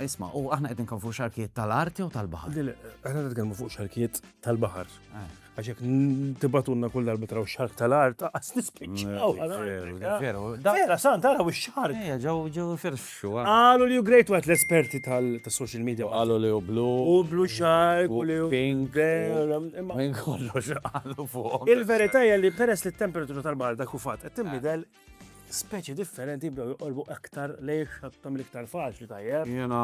Isma, u aħna qed nkun fuq xarkijiet tal-art jew tal-baħar? Le, aħna qed nkun fuq xarkijiet tal-baħar. Eh. Għax jekk tibatunna kull darba traw xark tal-art, qas nispiċċaw. Mm, Vera, san taraw ix-xark. Eh, ġew ġew firxu. Eh. Qalu li great wet l-esperti tal-social media. Qalu li u blu. U blu xark, u li pink. Minn kollox qalu fuq. Il-verità hija li peress li t-temperatura tal-baħar dak u fatt qed tinbidel speċi differenti jibdew joqorbu aktar lejn xattom l-iktar faċli tajjeb. Jena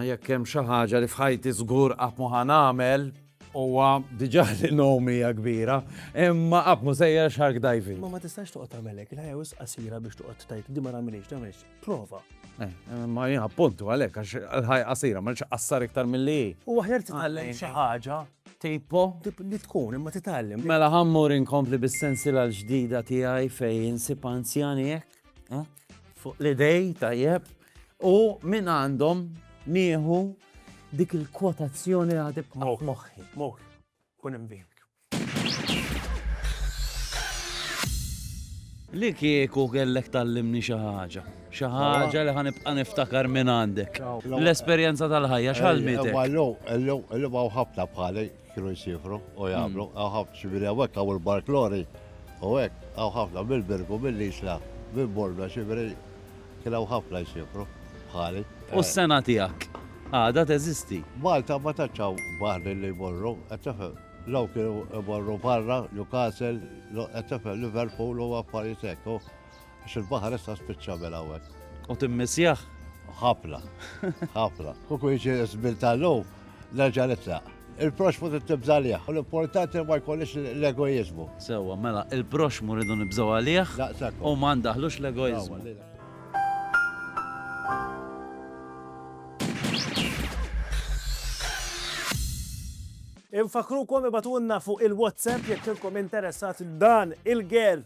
jekk hemm xi ħaġa li f'ħajti żgur qatt mu nagħmel huwa diġà li nomi hija kbira, imma qatt mu sejja shark diving. Ma ma tistax toqgħod tagħmelek, la jew qasira biex toqgħod tajt di ma nagħmilx tagħmilx. Prova. Eh, ma jien appuntu għalhekk għax ħaj qasira ma nix qassar iktar milli. U aħjar titgħallem xi ħaġa Tipo? Tip li tkun, imma titgħallem. Mela ħammur inkompli bis-sensiela l-ġdida tiegħi fejn insib anzjani hekk, eh? fuq l-idej tajjeb, u minn għandhom nieħu dik il-kwotazzjoni li għadib moħħi. Moħ, kun imbink. Li kieku kellek tal-limni xi ħaġa. Xi ħaġa li ħa nibqa' niftakar minn għandek. L-esperjenza tal-ħajja x'għallmitek? Illum hawn ħafna bħali kienu jsifru u jagħmlu, hawn hmm. ħafna xibiri hawnhekk hawn il-barklori u hekk hawn ħafna mill-birgu mill-isla minn borna xibiri kien hawn ħafna jsifru bħali. U s-sena tiegħek għada teżisti. Malta ma taċċaw baħri li jmorru, qed tifhem. Law kienu jmorru barra, Newcastle, qed tifhem Liverpool u affarijiet hekk. Għax il-baħar issa spiċċa bel hawnhekk. U timmissjah? Ħafna, ħafna. Kuku jiġi żmien tal-lum, nerġa' nitlaq. Il-proxmu trid tibża' għalih, u l-importanti ma jkollix l-egoiżmu. Sewwa, mela il-proxmu rridu nibżgħu għalih u ma ndaħħlux l-egoiżmu. Infakkrukom ibagħtulna fuq il-WhatsApp jekk intom interessati dan il-girl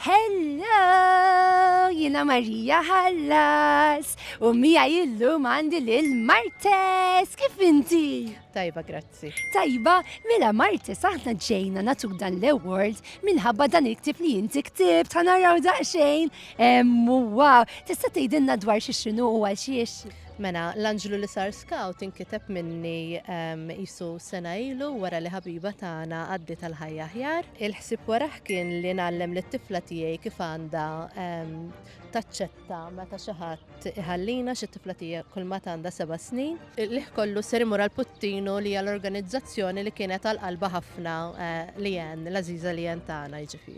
Hello! Jiena Marija Hallas u miegħi illum għandi lil Martes. Kif inti? Tajba, grazzi. Tajba, mela Martes aħna ġejna natuk dan l-award minħabba dan il-ktib li inti ktib ta' naraw daqsxejn. Wow, tista' tgħidilna dwar xi xinu u għal xiex? Mela, l-anġlu li sar scout inkiteb minni qisu sena ilu wara li ħabiba tagħna għaddiet għal ħajja aħjar. Il-ħsieb warah kien li ngħallem lit-tifla tiegħi kif għandha taċċetta meta xi ħadd iħallina xi tifla tiegħi kulmat għandha seba' snin. Il-qligħ kollu ser imur għal Puttinu li hija l-organizzazzjoni li kienet għal qalbha ħafna Leanne, l-għażiża Leanne tagħna jiġifieri.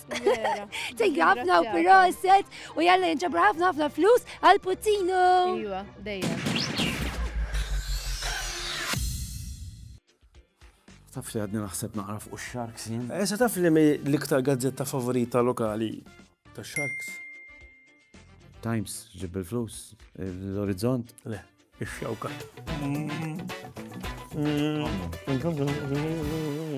Tejja ħafna u proset u jalla jinġabra ħafna ħafna flus għal Putinu. Iwa, dejja. Taf li għadni naħseb naqra fuq Sharks jien. Esa eh, taf li mi l-iktar gazzetta favorita lokali ta' Sharks. Times, ġib il-flus, l-orizzont. Le, ix-xewka. Mm. Mm. Mm.